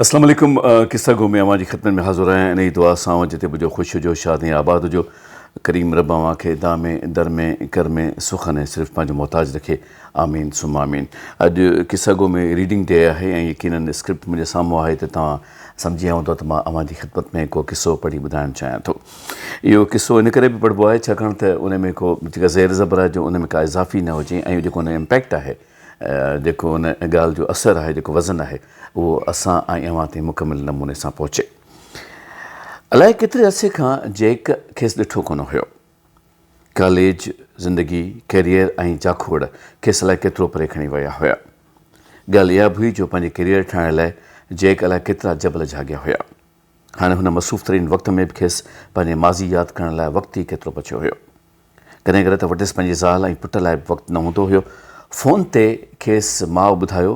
اسلام عليڪم قصه گو ۾ اوهان جي خدمت ۾ حاضر آهيان انهي دعا سان اوهان جتي به هجو خوش هجو شاد ۽ آباد هجو ڪريم رب اوهان کي دا ۾ در ۾ ڪر ۾ سخن ۽ صرف پنهنجو محتاج رکي آمين ثم آمين اڄ قصه گو ۾ ريڊنگ ڊي آهي ۽ يقينن اسڪرپٽ منهنجي سامهون آهي ته توهان سمجهيا هوندا ته مان اوهان جي خدمت ۾ ڪو قصو پڙهي ٻڌائڻ چاهيان ٿو اهو قصو ان ڪري به پڙهبو آهي ڇاڪاڻ ته ان ۾ ڪو جيڪا زير زبر آهي جو ان ۾ ڪا اضافي نه هجي ۽ جيڪو ان جو امپيڪٽ آهي جيڪو ان ڳالهه جو اثر آهي جيڪو وزن آهي اهو اسان ۽ اوهان تائين مڪمل نموني سان پهچي. الائي ڪيتري عرصي کان جيڪ کيس ڏٺو ڪونه هيو. ڪاليج زندگي، ڪيريئر ۽ جاکوڙ کيس الائي ڪيترو پري کڻي ويا هيا. ڳالهه اها به هئي جو پنهنجي ڪيريئر ٺاهڻ لاء جيڪ الائي ڪيترا جبل جهاڳيا هيا. هاڻي هن مصروف ترين وقت ۾ به کيس پنهنجي ماضي ياد ڪرڻ لاء وقت ئي ڪيترو بچيو هيو. ڪڏهن ڪڏهن ته وٽس پنهنجي زال ۽ پٽ لاء به وقت نه هوندو هيو. فون تي کيس ماء ٻڌايو،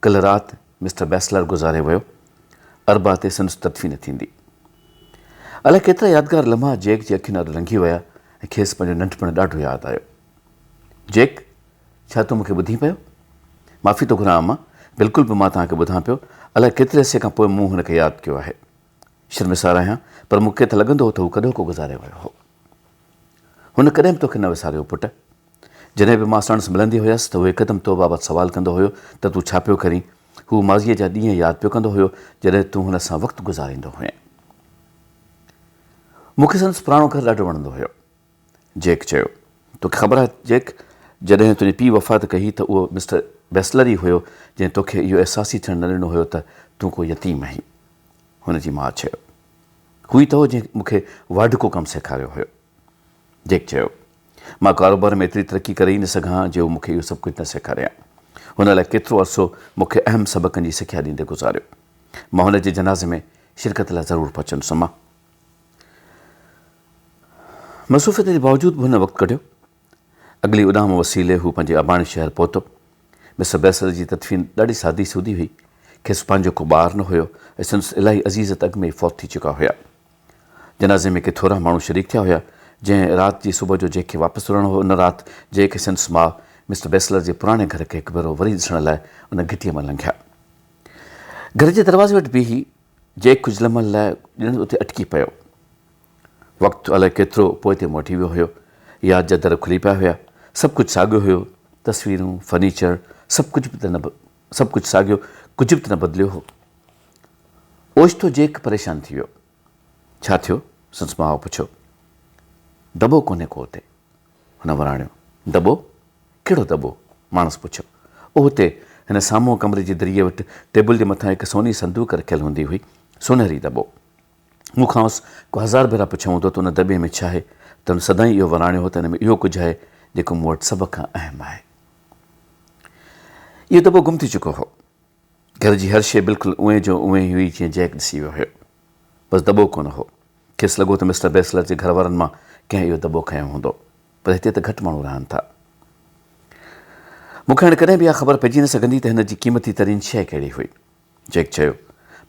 ڪلهه رات مسٽر بيسلر گذاري ويو. اربع تي سندس تدفين ٿيندي. الائي ڪيترا يادگار لمحا جيڪ جي اکين اڏ لنگهي ويا ۽ کيس پنهنجو ننڍپڻ ڏاڍو ياد آيو. جيڪ، ڇا تون مون کي ٻڌين پيو؟ معافي ٿو گهران اما، بلڪل به مان توهان کي ٻڌان پيو، الائي ڪيتري عرصي کان پوء مون هن کي ياد ڪيو آهي. شرمسار آهيان پر مون کي ته لڳندو هو ته هو ڪڏهوڪو گذاري ويو هو. هن ڪڏهن به توکي نه وساريو پٽ. جڏهن به مان ساڻس ملندي هيس ته هو هڪدم تو بابت سوال ڪندو هيو ته تون ڇا پيو ڪرين؟ هو ماضيء جا ڏينهن ياد پيو ڪندو هيو جڏهن تون هن سان وقت گذاريندو هئين. مون کي سندس پراڻو گهر ڏاڍو وڻندو هيو. جيڪ چيو. توکي خبر آهي جيڪ، جڏهن تنهنجي پيء وفات ڪئي هئي ته اهو مسٽر ويسلر ئي هيو جنهن توکي اهو احساس ئي ٿيڻ نه ڏنو هيو ته تون ڪو يتيم آهين. هن جي ماء چيو. هو ئي ته هو جنهن مون کي واڍڪو ڪم سيکاريو هيو. جيڪ چيو. مان ڪاروبار ۾ ايتري ترقي ڪري ئي نه سگهان ها جي هو مون کي اهو سڀ ڪجهه نه سيکاريان. هن الائي ڪيترو عرصو مون کي اهم سبقن جي سکيا ڏيندي گذاريو. مان هن جي جنازي ۾ شرڪت لاء ضرور پهچندس امه. مصروفيتن جي باوجود به هن وقت ڪڍيو. اڳلي اڏام وسيلي هو پنهنجي اباڻي شهر پهتو. مسٽر بيسل جي تدفين ڏاڍي سادي سودي هئي. کيس پنهنجو ڪو ٻار نه هيو ۽ سندس الاهي عزيز ته اڳ ۾ ئي فوت ٿي چڪا هيا. جنازي ۾ ڪي ٿورا ماڻهو شريڪ ٿيا هيا، جنهن رات جي صبح جو جئڪ کي واپس رهڻو هو ان رات جئڪ ۽ سندس ماء مسٽر بيسلر جي پراڻي گهر کي هڪ ڀيرو وري ڏسڻ لاء ان گهٽيء مان لنگهيا. گهر جي دروازي وٽ بيهي جئڪ ڪجهه لمحن لاء ڄڻ اتي اٽڪي پيو. وقت الائي ڪيترو پوئتي موٽي ويو هيو. ياد جا در کلي پيا هيا. سڀ ڪجهه ساڳيو هيو. تصويرون، فرنيچر، سڀ ڪجهه به ته نه سڀ ڪجهه ساڳيو، ڪجهه به ته نه بدليو هو. اوچتو جئڪ پريشان ٿي ويو. ڇا ٿيو؟ سندس ماء پڇيو. دٻو ڪونهي ڪو اتي. هن وراڻيو. دٻو؟ ڪهڙو دٻو؟ ماڻس پڇيو. اهو تي هن سامهون ڪمري جي دريء وٽ ٽيبل جي مٿان هڪ سوني صندوق رکيل هوندي هئي، سونهري دٻو. مون کانئس ڪو هزار ڀيرا پڇيو هوندو ته ان دٻي ۾ ڇاهي ته هن سدائين اهو وراڻيو هو ته ان ۾ اهو ڪجهه آهي جيڪو مون وٽ سڀ کان اهم آهي. اهو دٻو گم ٿي چڪو هو. گهر جي هر شيء بلڪل اونهي جو اونهي هئي جيئن جيڪ ڏسي ويو هيو. بس دٻو ڪونه هو. کيس لڳو ته مسٽر بيسلر جي گهر وارن مان ڪنهن اهو دٻو کنيو هوندو. پر هتي ته گهٽ ماڻهو رهن ٿا. مون کي هاڻي ڪڏهن به اها خبر پئجي نه سگهندي ته هن جي قيمتي ترين شيء ڪهڙي هئي. جيڪ چيو،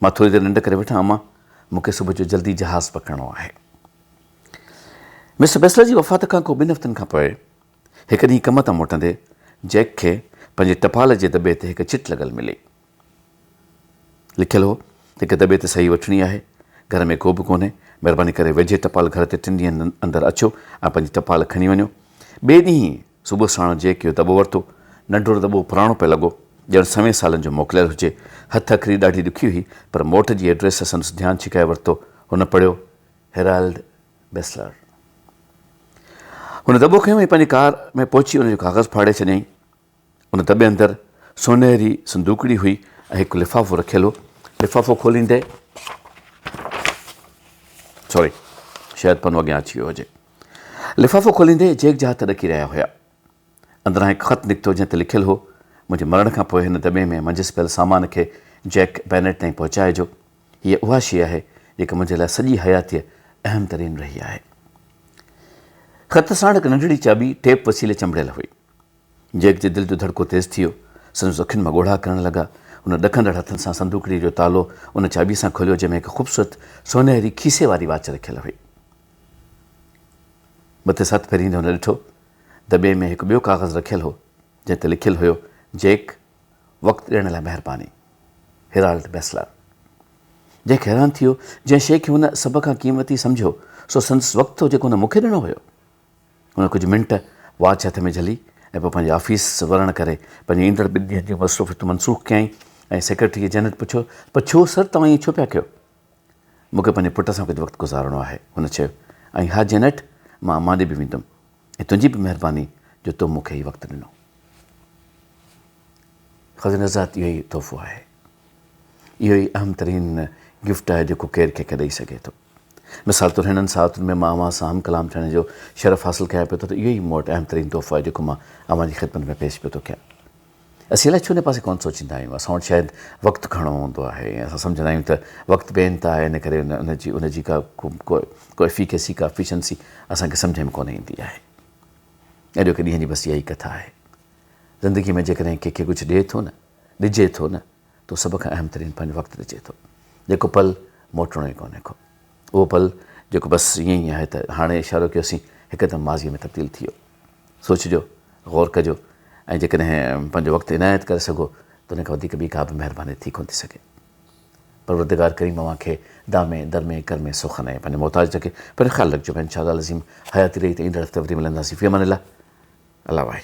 مان ٿوري دير ننڊ ڪري وٺان امان، مون کي صبح جو جلدي جهاز پڪڙڻو آهي. مسٽر بيسلر جي وفات کان ڪو ٻن هفتن کان پوء، هڪ ڏينهن ڪم تان موٽندي جئڪ کي پنهنجي ٽپال جي دٻي تي هڪ چٽ لڳل ملي. لکيل هو ته هڪ دٻي تي صحيح وٺڻي آهي. گهر ۾ ڪوبه ڪونهي. مهرباني ڪري ويجهي ٽپال گهر تي ٽن ڏينهن اندر اچو ۽ پنهنجي ٽپال کڻي وڃو. ٻئي ڏينهن صبح ساڻ جئڪ اهو دٻو ورتو. ننڍڙو دٻو پراڻو پئي لڳو. ڄڻ سوين سالن جو موڪليل هجي. هٿ اکري ڏاڍي ڏکي هئي پر موٽ جي ايڊريس سندس ڌيان ڇڪائي ورتو. هن پڙهيو، هيرالڊ. بيسلر هن دٻو کنيو ۽ پنهنجي ڪار ۾ پهچي ان جو ڪاغذ ڦاڙي ڇڏيائين. ان دٻي اندر سونهري صندوقڙي هئي ۽ هڪ لفافو رکيل هو. لفافو کوليندي سوري شايد پنو اڳيان اچي ويو هجي. لفافو کوليندي جيڪ جا هٿ ڏڪي رهيا هيا. اندران هڪ خط نڪتو جنهن تي لکيل هو، منهنجي مرڻ کان پوء هن دٻي ۾ منجهس پيل سامان کي جيڪ بينيٽ تائين پهچائجو. هيء اها شيء آهي، جيڪا منهنجي لاء سڄي حياتيء اهم ترين رهي آهي. خط ساڻ هڪ ننڍڙي چاٻي ٽيپ وسيلي چنبڙيل هئي. جيڪ جي دل جو ڌڙڪو تيز ٿي ويو. سندس اکين مان ڳوڙها ڪرڻ لڳا. هن ڏڪندڙ هٿن سان صندوقڙيء جو تالو ان چاٻيء سان کوليو جنهن ۾ هڪ خوبصورت سونهري کيسي واري واچ رکيل هئي. مٿس هٿ ڦيريندي هن ڏٺو دٻي ۾ هڪ ٻيو ڪاغذ رکيل هو، جنهن تي لکيل هيو، جيڪ، وقت ڏيڻ لاء مهرباني. هيرالڊ بيسلر. جيڪ حيران ٿي ويو. جنهن شيء کي هن سڀ کان قيمتي سمجهيو، سو سندس وقت هو، جيڪو هن مون کي ڏنو هيو. هن ڪجهه منٽ واچ هٿ ۾ جهلي ۽ پوء پنهنجي آفيس ورڻ ڪري، پنهنجي ايندڙ ٻن ڏينهن جون مصروفيتون منسوخ ڪيائين ۽ سيڪريٽريء جينٽ پڇيو، پڇيو، سر، توهان ائين ڇو پيا ڪيو؟ مون کي پنهنجي پٽ سان ڪجهه وقت گذارڻو آهي. هن چيو، ۽ ها جينٽ، مان اماڏي به ويندم. ۽ تنهنجي به مهرباني جو تو مون کي هي وقت ڏنو. خدا جي نزد اهو ئي تحفو آهي. اهو ئي اهم ترين گفٽ آهي جيڪو ڪير ڪنهن کي ڏئي سگهي ٿو. مثال طور هنن ساعتن ۾ مان اوهان سان هم ڪلام ٿيڻ جو شرف حاصل ڪيان پيو ٿو ته اهو ئي مون وٽ اهم ترين تحفو آهي جيڪو مان اوهان جي خدمت ۾ پيش پيو ٿو ڪيان. اسين الائي ڇو ان پاسي ڪونه سوچيندا آهيون. اسان وٽ شايد وقت گهڻو هوندو آهي ۽ اسان سمجهندا آهيون ته وقت بي انتها آهي ان ڪري ان جي ان جي ڪا ڪو افيڪيسي ڪا افيشنسي اسان کي سمجهه ۾ ڪونه ايندي آهي. اڄوڪي ڏينهن جي بس اها ئي ڪٿا آهي. زندگي ۾ جيڪڏهن ڪنهن کي ڪجهه ڏئي ٿو نه، ڏجي ٿو نه، تون سڀ کان اهم ترين پنهنجو وقت ڏجي ٿو جيڪو پل موٽڻو ئي ڪونهي ڪو اهو پل جيڪو بس ائين ئي آهي ته هاڻي اشارو ڪيوسين هڪدم ماضيء ۾ تبديل ٿي ويو سوچجو غور ڪجو ۽ جيڪڏهن پنهنجو وقت عنايت ڪري سگهو ته ان کان وڌيڪ ٻي ڪابه مهرباني ٿي ڪونه ٿي سگهي پروردگار ڪريم اوهان کي دامي درمي ڪرمي سوکن ۽ پنهنجي محتاج رکي پنهنجو خيال رکجو ڀاء انشاء الله العظيم حياتي رهي ته ايندڙ هفتي وري ملنداسين في امان الله الله واهي.